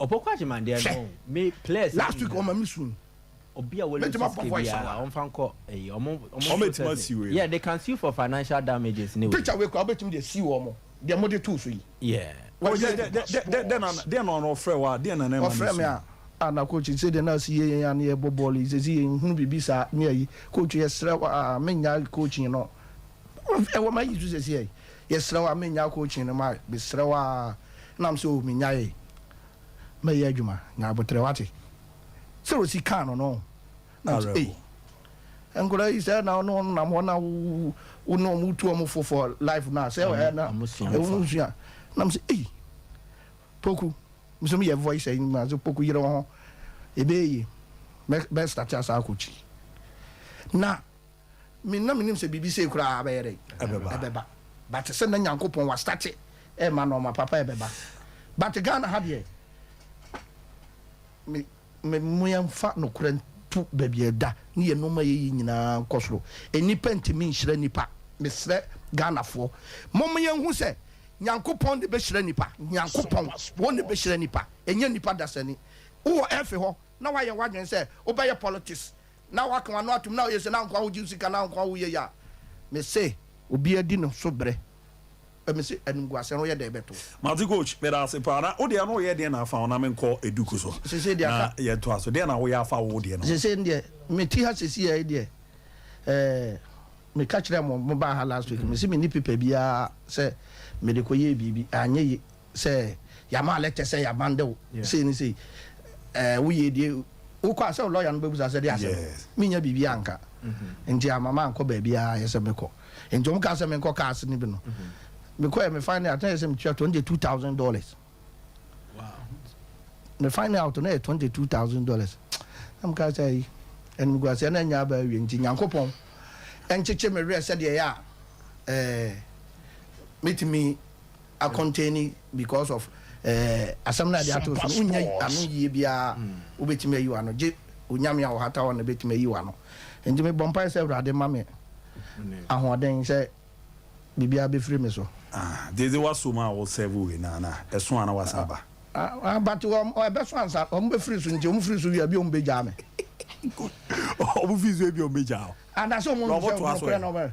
Hwɛ! Last week wɔma me sun. Mɛtumi abɔ voice a wa? Wɔbɛtumi asi wei no. Picture wei koraa wobɛtumi de asi wɔn deɛ mode too so yi. Deɛ na ɔno ɔfrɛ wo a deɛ na na ɛma no su. Ɔfrɛ me a, ah na coach sɛdeɛ na asi yɛ yɛn a na yɛbɔ bɔɔlo yi seesei yɛnhunu biribi saa ne ayi. Coach yɛsrɛ wo ah mennyae coaching no. Ɛwɔ m'ayi so seesei. Yɛsrɛ wo a menyaa coaching no ma mesrɛ wo aa nam sɛ oh menyaee mɛyɛ adwuma nya aboterɛ wate sɛ Rosie kaa no no nam sɛ ei nkwadaa yi sɛ na ɔne wɔn nam hɔ na wo ne wɔn tu wɔn fo for life no a sɛ ɛɛ na ɛwɔ nsua nam sɛ ei poku nso meyɛ voice ayi mu ase poku yere wo ho ɛbɛyɛ yie bɛstate asa akɔkyiri na Me na menim sɛ biribi sei koraa bɛyɛ dɛn? Ɛbɛba. Ɛbɛba. But sɛ na Nyankopɔn wa starte ɛɛma nɔɔma papa ɛbɛba. But Ghana ha deɛ, me, me, mo yɛn fa nokorɛ nto baabi a ɛda ne yɛn nɔɔma yɛ yi nyinaa nkɔ soro. Nnipa ntumi nhyira nnipa. Mesrɛ Ghanafoɔ, mo mo yɛn hu sɛ Nyankopɔn na ɛbɛhyira nnipa. Nyankopɔn, wɔn na ɛbɛhyira nnipa. Ɛnyɛ nnipa dasani. Wo wɔ ɛfe hɔ na wa yɛ w'adwene sɛ wo bɛyɛ politics. na waka wano atom na ɔyɛ se na nkoa hogye wo sika na nkoa woyɛ yi a me se obia di no so bre ɛ me se animguase ho yɛ dɛ bɛ to. Mate coach medase paa na wodeɛ no woyɛ deɛn na afa wo na menkɔ eduku so na yɛntoa so deɛn na woyɛ afa wo wodeɛ no ho. Sesei deɛ mete ha sesei ha yi deɛ eh meka kyerɛɛ mo mobaa ha last week mese menni paper biaa sɛ mede kɔyɛɛ biribi anyɛ ye. sɛ yɛama lɛtɛ sɛ yɛabande wo sei ne sei, ɛɛ woyɛ die, wokɔ a sɛ wo lɔya no bɛbusa sɛ deɛ asɛm, mennya biribi anka nti amma mankɔ baabiara ayɛ sɛ mɛkɔ. Nti wɔn kaa sɛ menkɔ cars no bi no, mekɔɛ me find out na yɛ sɛ metua twenty two thousand dollars, me find out na yɛ twenty two thousand dollars, na mekaa sɛ ayi animguaseɛ no anya aba awie nti Nyankopɔn nkyekye me werɛ sɛdeɛ ɛyɛ a ɛɛ mɛtumi. akɔntɛni because of ɛɛ asɛm no a yɛde ato so no wonnya ano yie biara wobɛtumi ayi w'ano gye onyame a ɔhata hɔ na bɛtumi ayi w'ano nti mebɔ mpae sɛ awurade ma me ahoɔden sɛ biribiara bɛfiri me so. Ah gyedze w'asom a wo serve wei no ana ɛso a na w'asan aba. Ah but ɛbɛso ansa ɔmo bɛfiri so nti ɔmo firi so wie a ebia ɔmo bɛgyaa me. Good ɔmo firi so ebia ɔmo bɛgyaa wo. Anaa sɛ ɔmo hu sɛ ɔmo korɛ na ɔmo.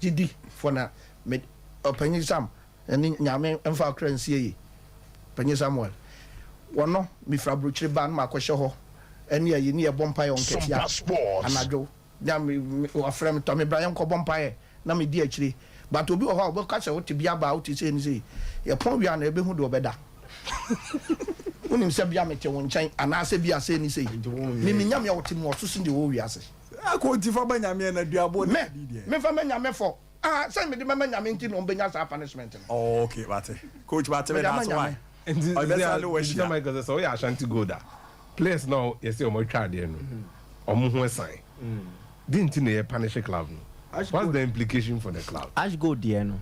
Gyidi fo na me Ɔpanyin Sam ne Nyame mfa ɔkra nsie yi Panyin Samuel wɔ no me firi abrokyire ba na ma kɔ hyɛ hɔ ne ayi ne yɛ bɔ mpaeɛ wɔ nkatia anadwo na me wa frɛ me tɔ me bra yɛ nkɔ bɔ mpaeɛ na me di akyire but obi wɔ hɔ a ɔbɛ ka sɛ wo te bia baa wo te sei ne sei yɛ pɔn wie a na yɛ bɛ hu deɛ ɔbɛ da wo nim sɛ bia me te wo nkyɛn anaa sɛ bia sei ne sei me me Nyame a ɔte mu ɔso sen deɛ ɔwɔ wiase. Akɔ nti fa ba nyame ɛna duaboɔ ne adi deɛ. Me me nfa ma nyame fɔ ah sɛ me de bɛ ma nyame nti na ɔmo bɛ nya saa punishment no. Oh ok mate coach mate me da ase why ɔde bɛ sa ne wa hyia. Nti sɛ Michael sɛ sɛ ɔyɛ Ashanti gold a players no a yɛsɛ ɔmo atwa adeɛ no ɔmo ho ɛsan den nti na yɛ punish club no what's the implication for the club. Ash gold deɛ no.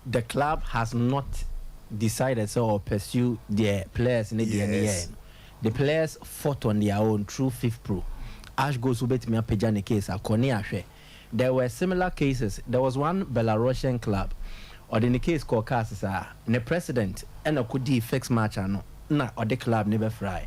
The club has not decided sɛ ɔwɔ pursue deɛ players no deɛ no yɛɛ no. The players fought on their own through Fifpro. Ash Goes nso bɛtumi apagya ne case akɔ ne ahwɛ. There were similar cases, there was one Belarusian club, ɔde ne case kɔɔ cas saa, ne president na kɔdii fixed match ano na ɔde club no bɛfrae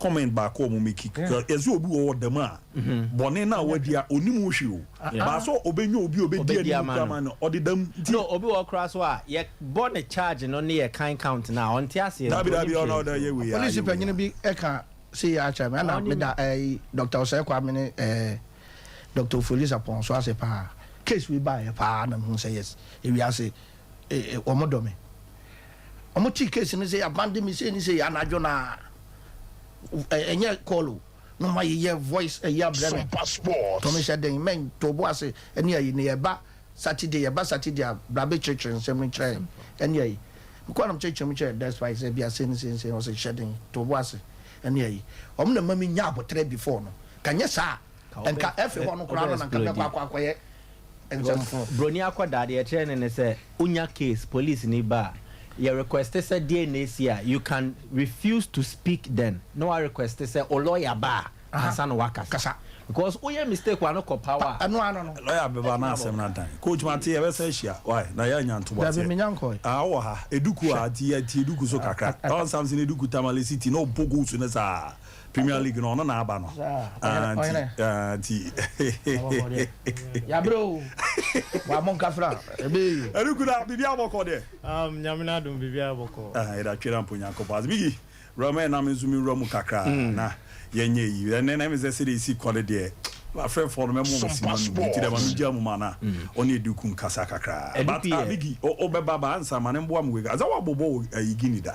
comment baako a ɔmo make Yeah. yɛse obi wɔ hɔ dɛm a bɔne no a wadi a onim ho hwee o Ah, ah. but sɛ ɔbɛnya obi a ɔbɛdi Ɔbɛdi anim ama kura no. ma no ɔde dɛm nti No, obi wɔ hɔ koraa so a, yɛbɔ ne charge no ne yɛkan count no a, ɔnte aseɛ nti, daabi daabi ɔnim ɔno hwee ɔdɛ nti. yɛ wei a Polisi yɛ wei panyin a bi ka sei akyerɛ me, ɛna Ɔnim. meda ɛyi Dr. Osei Kwame ne ɛɛ Dr. Ofori Sapon so ase paa. Case wei baeɛ paa na mehu sɛ yes, ewiase e, e, wɔn dɔ me. Ɔmo tee case no sɛ y'abandon me sei ne sei anadwo no a ɛ ɛnyɛ call o na ɔmo ayeyɛ voice ɛyi abrɛ me Super Sports. tɔ me hyɛ den mɛn too bo ase ɛne ayi ne yɛba Saturday yɛba Saturday a bra bɛ kyerɛkyerɛ nsɛm no kyerɛ yɛn ɛne ayi mekɔɔ na me kyerɛkyerɛ mu kyerɛ Despite sɛ bia sei ne sei ne sei ɔse hyɛ den too bo ase ɛne ayi ɔmo na ɛma me nya aboterɛ before no ka nyɛ saa a Ka ɔbɛ nka ɛfe hɔ no koraa no na nka mɛkɔ ɛsplodi. akɔ akɔyɛ nkyɛm ho. Broni akɔdaa deɛ yɛkyerɛ no ne sɛ wonya case police ni ba a yɛ request sɛ DNA si a you can refuse to speak then na wa request sɛ wo lawyer ba a ansa na wakasa because woyɛ mistake wa no kɔ paw a ɛno ano no lawyer bɛba na asɛm no adan. Coach Mate yɛbɛsan ahyia wai na yɛanya ntoboaseɛ. Dabi menya nkɔɔɛ. Aah wowɔ ha, eduku a nti yɛte eduku so kakra. Ɔn Samson Eduku Tamale City na ɔbɔ goals no saa. Premier League no ɔno na aba no. Ah nti ah nti. Yabre o. Wa mo nkafra ebe. Eri kuda bibi abɔkɔ de. Um nyame na dum bibi abɔkɔ. Ah era twera mpo nyankopɔ as bigi. Rama e na me nso me wura mu kakra mm. na yɛnyɛ yi. Ɛnɛ na me sɛ sɛ de esi kɔ no deɛ. Afrɛ fɔ no mɛ mo mo si ma no. Ti de ma me gya mu ma na. Mm. Ɔne edu kun kasa kakra. But ah bigi o o bɛba ba ansa ma ne mboa mo wega. Azawa bobo o ayigini da.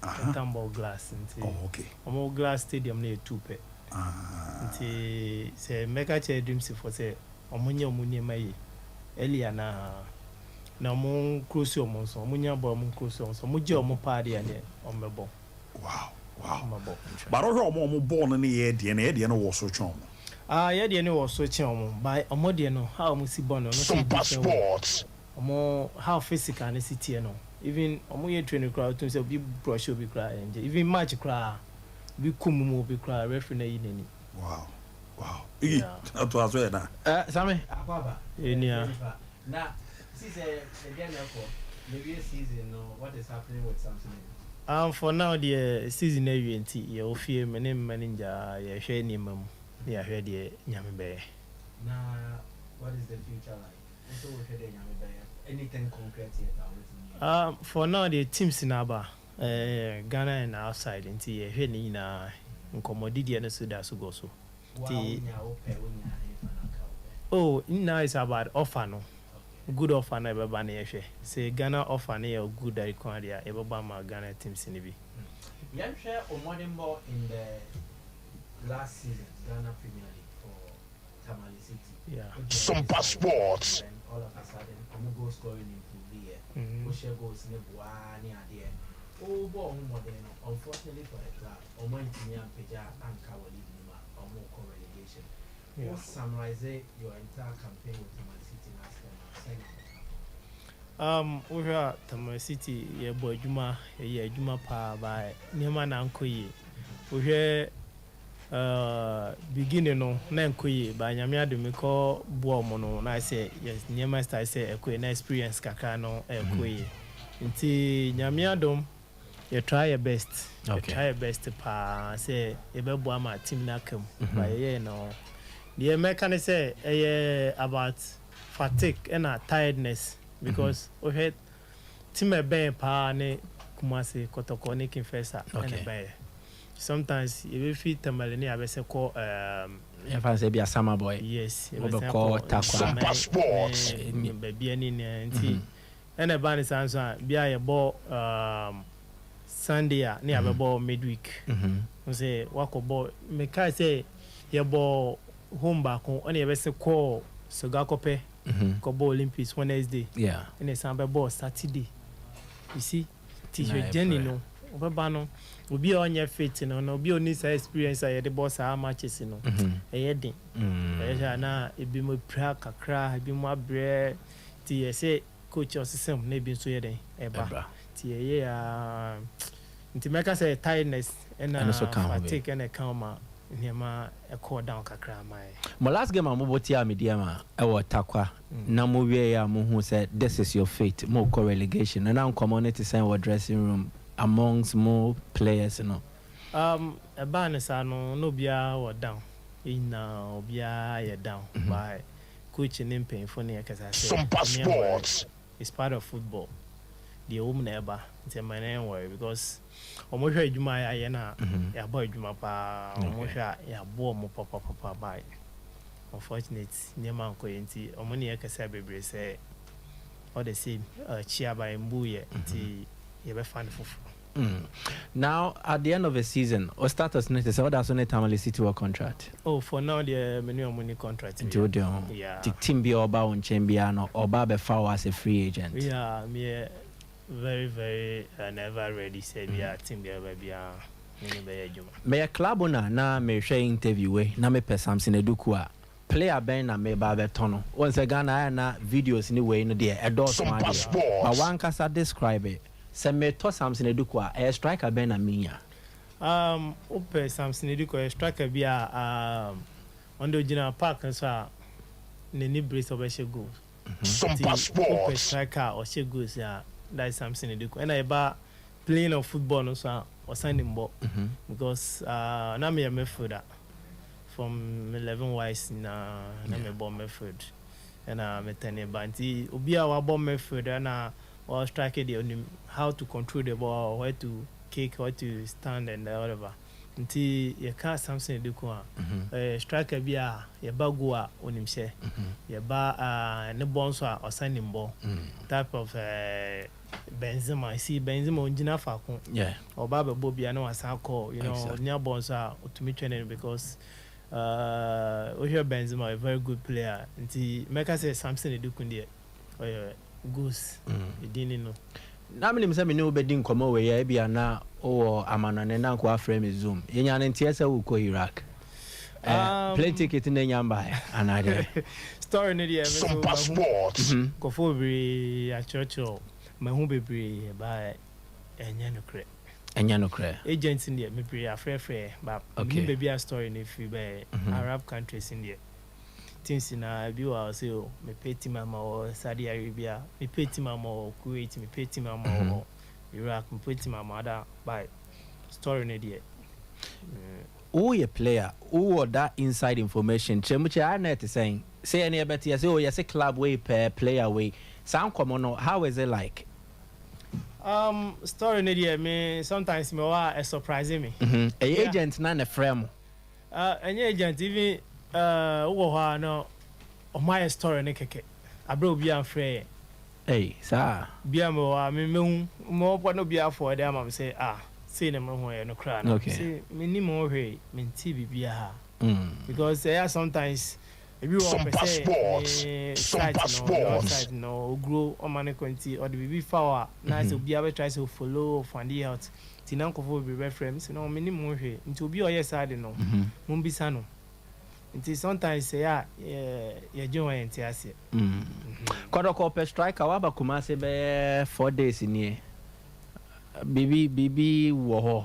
Cottonball glass nti ɔmo glass stadium no yɛ tu pɛ nti sɛ mɛka kyerɛ Edumsi foɔ sɛ ɔmo nyɛ ɔmo nneɛma yie early anaa na ɔmo nkrosi ɔmo nso ɔmo nya bɔɔl ɔmo nkrosi ɔmo nso ɔmo gye ɔmo paa deɛ neɛ ɔmo bɛ bɔ. Wow wow ɔmo bɛ bɔ. But ɔhwɛ ɔmo ɔmo bɔɔl no ne yɛ deɛ no yɛ deɛ no wɔ so kyɛn ɔmo. Ah yɛ deɛ no wɔ so kyɛn ɔmo but ɔmo deɛ no how ɔmo si bɔ no no sɛ ebi kyɛn ɔmo. Ɔmo how physical no si teɛ no even ɔmo yɛ training koraa wotum sɛ obi brush obi koraa ɛngye even match koraa obi ko mum obi koraa referee no ayi nani. Wow wow iyi na to aso yɛ na. Eh same akɔ aba ɛnua. Na see sɛ ɛdeɛ na ɛkɔ na ɛwie season no what is happening with samsonite. Ahm for now deɛ season no awie nti yɛwɔ fie me ne me mma no ngyaa yɛhwɛ nneɛma mu na yahwɛ deɛ nyame bɛyɛ. Na what is the future like. Ah for now deɛ teams no aba Ghana and outside nti yɛ hwɛ ne nyinaa nkɔmɔdi deɛ no so da so gɔ so nti oh ne nyinaa is about offer no good offer no a ɛbɛba no yɛ hwɛ sɛ Ghana offer no yɛ good a ɛko adeɛ a yɛ bɛbɔ ama Ghana teams no bi. Yɛnhwɛ wo mmɔdenbɔ in the last season Ghana Premier League for. Supersports. Um, wohwɛ a Tamale City yɛbɔ adwuma, yɛyɛ adwuma paa baa nneɛma na ankɔ yie. Wohwɛ Ahh beginning no na ɛnkɔ yie but Nyame adom mekɔ boa ɔmo no na ayɛ sɛ yes nneɛma start sɛ ɛkɔ yie na experience kakra no ɛɛkɔ yie nti Nyame adom yɛ try yɛ best yɛ try yɛ best paa sɛ yɛbɛboa ama team no aka mu but yɛyɛɛ no deɛ mɛka ne sɛ ɛyɛ about fatigue ɛna tiredness because wohwɛ team a ɛbɛɛn paa ne Kumasi, Kɔtɔkɔ ne King Faisal ɛna ɛbɛɛn. sometimes yɛbɛfiri Tamale ne yɛabɛsɛ kɔ um, yɛmfa no sɛ bi asama boy yes yɛbɛsɛ wobɛkɔ akɔ takwa Nkyene Super Sports. ne ne baabiara ne nyinaa nti ɛna ɛbaa ne saa nso a bi a yɛbɔ um, Sunday a ne yɛabɛbɔ midweek ho sɛ wakɔbɔ mekae sɛ yɛbɔ home baako ɛna yɛbɛsɛ kɔɔ Sogakɔpɛ kɔbɔ Olympics Wednesday yeah ɛna ɛsan bɛbɔɔ Saturday you see Ti hwɛ Jenny no ɔbɛba no obi a ɔnyɛ fit no na obi a ɔni saa experience a yɛde bɔ saa matches no ɛyɛ den ɛyɛ sɛ ana ebi mo apira kakra ebi mo abrɛ ti yɛ sɛ coach ɔsesam na ebi nso yɛ den ɛba ti ɛyɛ a nti mɛka sɛ tiredness ɛna fatigue ɛna ɛka ɔma nneɛma ɛkɔɔ down kakra ma yɛ. Mo last game a mo bɔ tia Midiama ɛwɔ Tarkwa na mo wiei a mo hu sɛ this is your fate, mo rekɔ relegation no, na nkɔmmɔ no te sɛn wɔ dressing room amongst mo players no? Um, ɛbaa no saa no, na obiara wɔ down, yɛn nyinaa obiara ayɛ down, but coach ne mpanyinfo no yɛ kasa sɛ yɛn worry, it's part of football, deɛ ɛwɔ mu na ɛba, nti ɛma yɛn worry because Wɔhwɛ adwuma a yɛayɛ no a, yɛabɔ adwuma paa. Wɔhwɛ a, yɛaboa wɔn papapapa but unfortunately nneɛma ankɔyɛ nti wɔne yɛn kasaa bebree sɛ all the same akyia ba ɛmbuu yɛ nti yɛbɛfa no foforɔ. Now at the end of a season wo status ne te sɛ woda so ne Tamale City wɔ contract? Oh for now deɛ me ne wɔn nni contract biara. Nti wo deɛ ho te team biara ɔba wo nkyɛn biara no ɔba abɛfa wo as a free agent? Yeah meyɛ Very very and ever ready sɛ bia team bia bɛba bia me ne bɛyɛ adwuma. Meyɛ club owner na merehwɛ interview wei na mepɛ Samson Aduku a, player bɛn na meba abɛtɔ no? Wohu sɛ Ghana ayɛ na videos ne wei no deɛ ɛdɔɔso ara deɛ. But w'ankasa describe it, sɛ metɔ Samson Aduku a, ɛyɛ striker bɛn na menya? Um, wopɛ Samson Aduku a, ɔyɛ striker bi a um, ɔno deɛ ɔgyina park no so a, n'ani bere sɛ ɔbɛhyɛ goals. Some passports. Nti wopɛ striker a ɔhyɛ goals a, that is something ne de kɔ. Ɛna ɛba playing of football no so a, ɔsan nim bɔ. Because uh, na meyɛ midfielder. From 11 wise nyinaa, na yeah. mebɔ midfield. Ɛna metɛne ba. Nti obi a wabɔ midfield ɛna ɔwɔ striker deɛ onim how to control the ball, where to kick, where to stand and whatever. Nti yɛka Samson Adekun a, ɔyɛ striker bi a yɛba goal a onim hyɛ, yɛba ne bɔ nso a ɔsan nim bɔ, type of Benzema. You see Benzema ongyina faako, ɔba abɛbɔ bi a na wasan akɔ, you know, onya bɔ nso a otumi twɛn no because wohwɛ Benzema ɔyɛ very good player. Nti mɛka sɛ Samson Adekun deɛ. Ɔyɛ Gus, ne din ne no. Na menim sɛ me ne wo bɛdi nkɔmmɔ wei a, ebia na wowɔ amannɔne na anka woafrɛ me Zoom. Yɛnyaa no nteɛ sɛ worekɔ Iraq. Eh, Um, plane ticket na nya mbaeɛ anaa deɛ? Story no deɛ me Some so mahu passports. Mhm. nkurɔfoɔ bebree akyerɛkyerɛw, mahu bebree ba ɛnyɛ nokorɛ. Ɛnyɛ nokorɛ. Agents no deɛ bebree afrɛfrɛ but Okay. menim baabi a story no firi baeɛ, Arab countries no deɛ. Team si na ebi wɔ a ɔse o mepɛ team ama wɔ Saudi Arabia, mepɛ team ama wɔ Kuwait, mepɛ team ama wɔ Iraq, mepɛ team ama ada by story no deɛ. Woyɛ player, wowɔ that inside information, kyerɛ mu kyerɛ a na ɛte sɛn? Sɛ yɛn yɛbɛte yɛse o yɛse club wei pɛ player wei, saa nkɔmmɔ no how is it like? Um, story no deɛ me sometimes mewɔ a ɛ surprise me. Ɛyɛ agent no a na ɛfrɛ mo? Ah ɛnyɛ agent even ah wo wɔ hɔ a na ɔmo ayɛ story no kɛkɛ abrɛ a obiaa nfrɛ yɛn. Ei saa? Bia mewɔ hɔ a me mɛhu mo bɔ na obiaa forward ama me sɛ ah sei na mehu ɛyɛ nokorɛ anaa? Mese mennim ho hwee, mentee biribiaa because ɛyɛ a sometimes. Ebi wɔ hɔ ɔpɛ sɛ ne site no ɔnyɛ wo site no oguro ɔma no kɔ nti ɔde biribi fa hɔ a na ayɛ sɛ obiara bɛ try sɛ o follow o fande out nti na nkorɔfoɔ bebree bɛ frɛ me sɛ no me nim ho hwee nti obi a ɔyɛ saa de no mo mbisa no nti sometimes sɛ yɛ a yɛ dwen hɔ yɛ nte aseɛ. Kɔdɔkɔ ɔpɛ striker waba Kumasi bɛyɛ four days nie biribi biribi wɔ hɔ.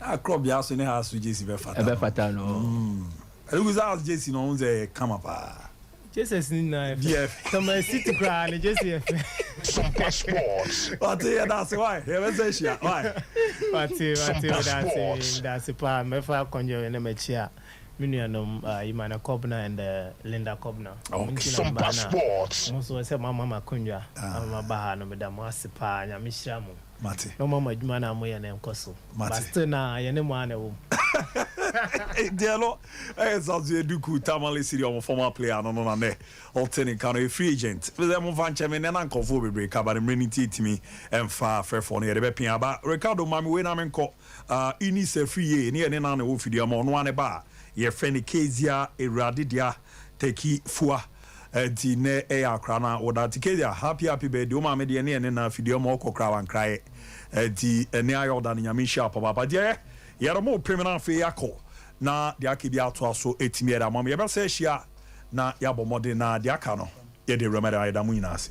Na crop bi aso ne ha so jersey bɛ fata no. Ɛbɛ fata no. Ɛlugu sɛ house jersey no ɔho sɛ kama paa. Jerseys no nyinaa yɛ fɛ. Sɛ man city koraa ne jersey yɛ fɛ. Super sports. Wate yɛ daase why yɛ bɛ sɛ hyia why. Wate wate yɛ daase daase paa mɛfa kɔnjɛ wɛ na mɛ kyia me nua nom uh, Imana Kobna and uh, Linda Kobna. Okay. Super sports. Mo so sɛ mo ama ma kɔnjwa ama ma baha no mɛ da mo ase paa nyame hyira mo. Mate. Na ɔma mo adwuma no a moyɛ no nkɔ so. Mate. But still na yɛne mo ara na ɛwɔ mu. Deɛ no ɛyɛ Zazuɛ Duku Tamale Siri ɔmo former player no no na nɛ ɔte ne nka no yɛ free agent. Mesɛ mo nfa nkyɛ me nɛ na nkorɔfoɔ bebree ka but mmerɛ no nti ɛtumi ɛmfa frɛfoɔ no yɛde bɛpia aba. Ricardo ma me wei na menkɔ ah Eunice Afriyie ne yɛ ne na na ɛwɔ Fiduamu ɔno ara ne ba a yɛfrɛ no Kezia Awurade Dea Tɛki Fua. Enti nnɛ ɛyɛ akora na wo da Tikedia happy happy birthday wo maame deɛ ne yɛ ne na afidie ma ɔkɔ kora wankra yɛ enti ɛnnɛ ayɛ ɔda no nyame nhyira papa ba deɛ yɛ yɛre mo pem no afei akɔ na deɛ aka bi atoa so ɛtumi ɛda mom yɛbɛsa ahyia na yɛabɔ mmɔden na deɛ aka no yɛde awura mu ɛda yɛda mo nyinaa ase.